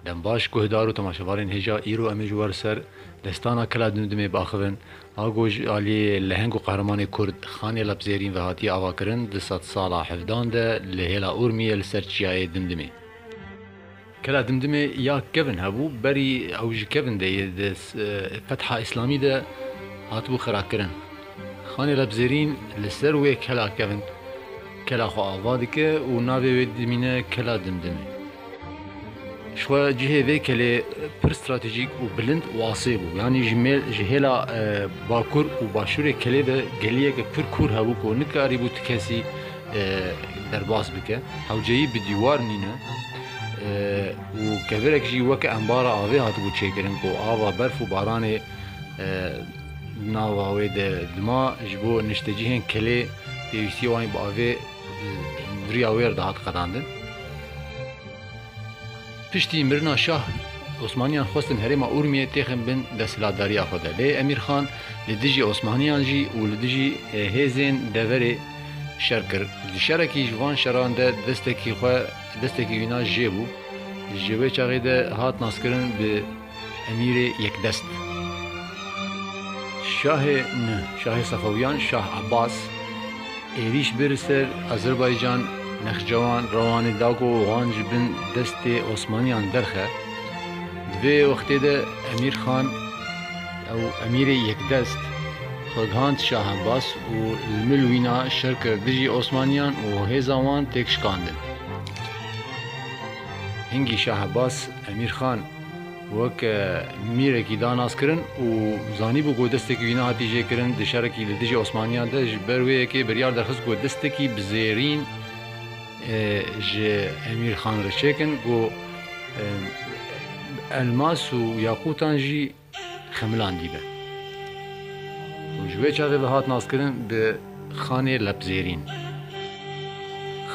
Dembaş, Guhdar û temaşevanên hêja îro em ê ji we li ser destana Kila Dimdimê biaxivin. A ku ji aliyê leheng û qehremanê Kurd Xanê Lebzêrîn ve hatiye avakirin, di sedsala hevdan de li hêla Urmiyê li ser çiyayê Dimdimê. Kila Dimdimê ya kevin hebû, berî ew ji kevin de yê di Fetha Îslamî de hatibû xirakirin. Xanê Rebzêrîn li ser wê kela kevin kela xwe ava dike û navê wê dimîne Kela Dimdimê. Jixwe cihê vê kelê pir stratejîk û bilind û asê bû. Yanî ji mêl ji hêla bakur û başûrê kelê de geliyeke pir kûr hebû ku nikarîbû tu kesî derbas bike. Hewceyî bi dîwar nîne û kevirek jî weke embara avê hatibû çêkirin ku ava berf û baranê Di nava wê de dima ji bo niştecihên kelê pêwîstiyê wan bi avê viriya wêr dihat qedandin. Piştî mirina şah, Osmaniyan xwestin herêma Urmiyê têxin bin desthilatdariya xwe de. Lê Emîr Xan li dijî Osmaniyan jî û li dijî hêzên deverê şer kir. Di şerekî ji van şeran de destekî xwe destekî wî na jê bû. Ji wê çaxê de hat naskirin bi. Emîrê Yekdest, Şahê nû, Şahê Sefewîyan Şah Ebas êrîş bi li ser Azerbaycan, Nexçewan, Rewanê da ku wan ji bin destê Osmanîyan derxe. Di vê wextê de Emîr Xan ew Emîrê Yekdest xwe gihand Şah Ebas û li mil wîna şer kir dijî Osmanîyan û hêza wan têk şikandin. Hingî Şah Ebas Emîr Xan wek mîrekî da naskirin û zanîbû ku destekî wî nehatî jêkirin di şerekî li dijî Osmaniyan de, ji ber wê yekê biryar derxist ku destekî bi zêrîn ji Emîr Xan re çêkin ku elmas û yaqûtan jî xemilandî be û ji wê çavê ve hat naskirin bi Xanê Lebzêrîn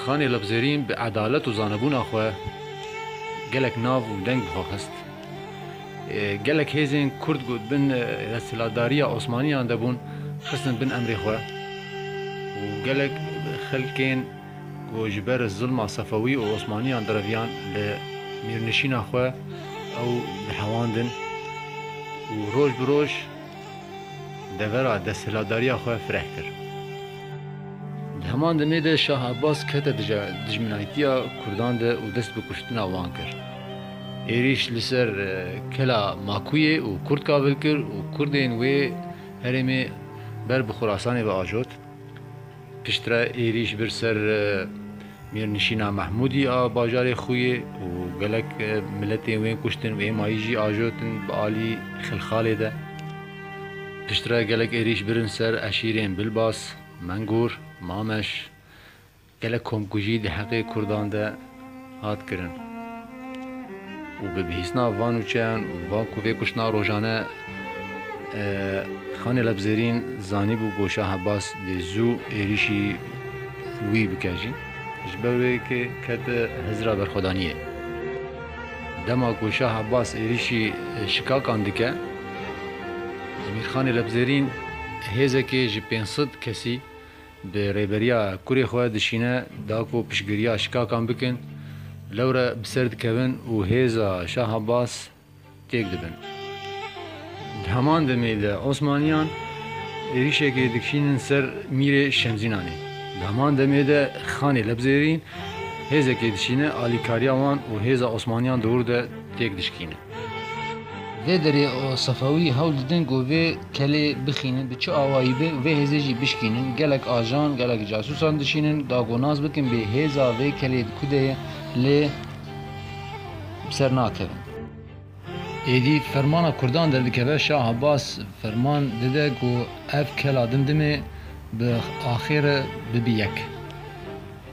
Xanê Lebzêrîn bi edalet û zanebûna xwe gelek nav û deng bi xwe xist. Gelek hêzên Kurd ku di bin desthilatdariya Osmaniyan de bûn xistin bin emrê xwe û gelek xelkên ku ji ber zilma Sefewî û Osmaniyan direviyan li Mîrnişîna xwe ew dihewandin û roj bi roj devera desthilatdariya xwe fireh kir. Di heman demê de Şah Abbas kete dijminayîtiya Kurdan de û dest bi kuştina wan kir. Êrîş li ser kela Makûyê û Kurd kabil kir û Kurdên wê herêmê ber bi Xurasanê ve ajot. Piştre êrîş bir ser mêrnişîna Mehmûdî a bajarê Xûyê û gelek miletên wê kuştin û êmayî jî ajotin bi alî Xilxalê de. Piştre gelek êrîş birin ser eşîrên Bilbas, Mengûr, Mameş. Gelek komkujî di heqê kurdan de hat kirin û bi bihîstina van nûçeyan û van ku vê kuştina rojane Xanê Lebzerîn zanîbû ku Şah Ebas dê zû êrîşî wî bike jî ji ber wê ke kete hizira berxwedaniyê. Dema ku Şah Ebas êrîşî şikakan dike Emîrxanê Lebzerîn hêzekê ji pênc sed kesî Bi rêberiya kurê xwe dişîne da ku piştgiriya şikakan bikin, lewre bi ser dikevin û hêza Şah Abbas têk dibin. Di heman demê de Osmaniyan êrîşekê dikişînin ser mîrê Şemzînanê. Di heman demê de Xanê Lebzêrîn hêzekê dişîne alîkariya wan û hêza Osmaniyan dewr de têk dişkîne. Dê derê û Sefewî hewl didin ku vê kelê bixînin bi çi awayî be û vê hêzê jî bişkînin. Gelek ajan, gelek casûsan dişînin da ku nas bikin bê hêza vê kelê di ku de ye lê bi ser nakevin. Êdî fermana kurdan derdikeve Şah Abbas ferman dide ku ev kela dimdimê bi axê re bibe yek.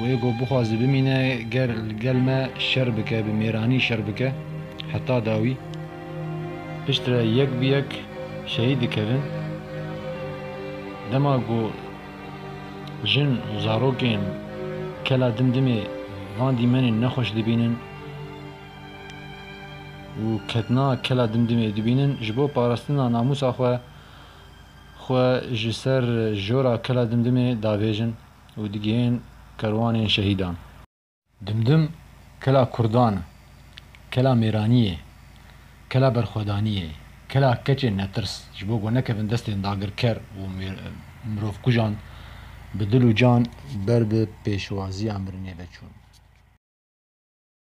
Wê ku bixwaze bimîne ger li gel me şer bike, bi mêranî şer bike heta dawî. Pişt re yek bi yek şehîd dikevin. Dema ku jin û zarokên kela dim dimê van dîmenên nexweş dibînin û ketina kela dim dimê dibînin, ji bo parastina namûsa xwe, xwe ji ser jora kela dim dimê davêjin. û digihên kerwanên şehîdan. Dimdim kela kurdan e, kela mêraniyê, kela berxwedaniyê, kela keçên netirs ji bo ku nekevin destên dagirker û mirovkujan bi dil û can ber bi pêşwaziya mirinê veçûn.